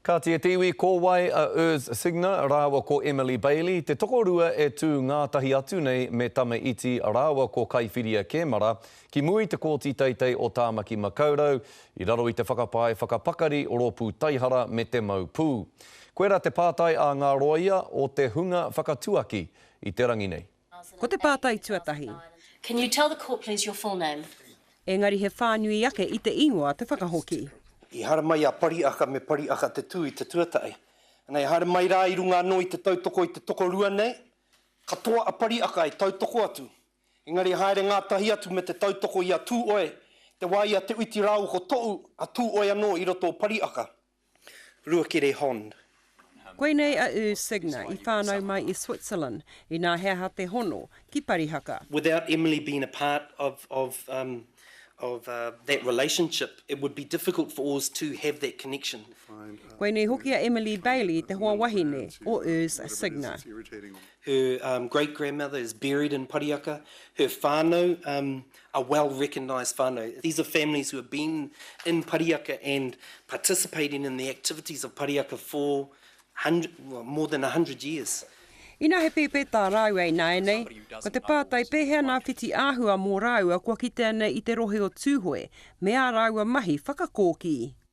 Kāti te iwi ko wai a Urs Signer rāua ko Emily Bailey, te tokorua e tū ngātahi atu nei me Tama Iti rāua ko Kaiwhiria Kemara ki mua i te Kōti Teitei o Tāmaki Makaurau i raro i te whakapae whakapakari rōpū taihara me te mau pū. Koirā te pātai a ngā rōia o te hunga whakatuaki i te rangi nei. Ko te pātai tuatahi. Can you tell the court please your full name? Engari he whānui ake i te ingoa te whakahoki. I haere mai a Pariaka me Pariaka te tū i te tuatahi. Ana i haere mai rā i runga anō i te tautoko i te tokorua nei, katoa a Pariaka i tautoko atu. Engari i haere ngātahi atu me te tautoko i a Tūoe, te wā i a Te Uiti rāua ko Toʻu, a Tūoe anō i roto o Pariaka. Ruakere Hon. Koinei a U Signa i whānau mai i Switzerland, inā he aha te hono ki Parihaka? Without Emily being a part of of um of uh that relationship, it would be difficult for us to have that connection. Koinei hoki a Emily Bailey te hoa wahine o U Signa. Her um great-grandmother is buried in Parihaka. Her whānau um a well recognised whanau, these are families who have been in Pariaka and participating in the activities of Pariaka for more than a hundred years. Ina he pēpētā rāua ināianei, ko te pātai pēhea nā whiti āhua mō rāua kua kitea nei i te rohe o Tūhoe, me ā rāua mahi whakakōkī.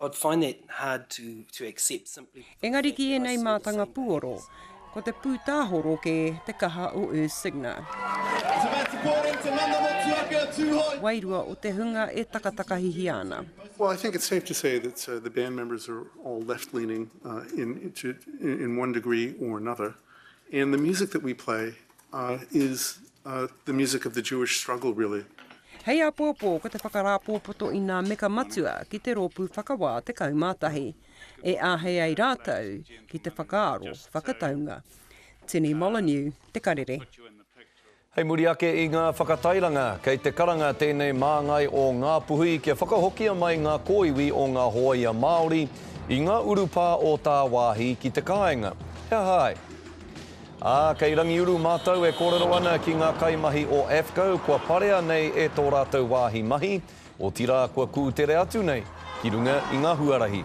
I'd find that hard to, to accept simply Engari ki ēnei mātanga pūoro, ko te pūtāhoro kē te kaha o Urs Signer. Wairua o te hunga e takatakahihia ana. Well, I think it's safe to say that uh, the band members are all left leaning uh, in, to, in one degree or another. And the music that we play is the music of the Jewish struggle really. Hei apoapo ko te whakarāpōpoto i nā meka matua ki te Rōpū Whakawā 11, e āhei ai rātou ki te whakaaro whakataunga. Tini Molyneux, Te Karere. Hei muri ake i ngā whakatairanga, kei te karanga tēnei māngai o Ngā Puhi kia whakahokia mai ngā kōiwi o ngā hōia Māori i ngā urupā o tāwāhi ki te kāinga. He aha ai? Ā, kei Rangiuru mātou e kōrero ana ki ngā kaimahi o AFCO kua parea nei e tō rātou wāhi mahi, otirā kua kūtere atu nei ki runga i ngā huarahi.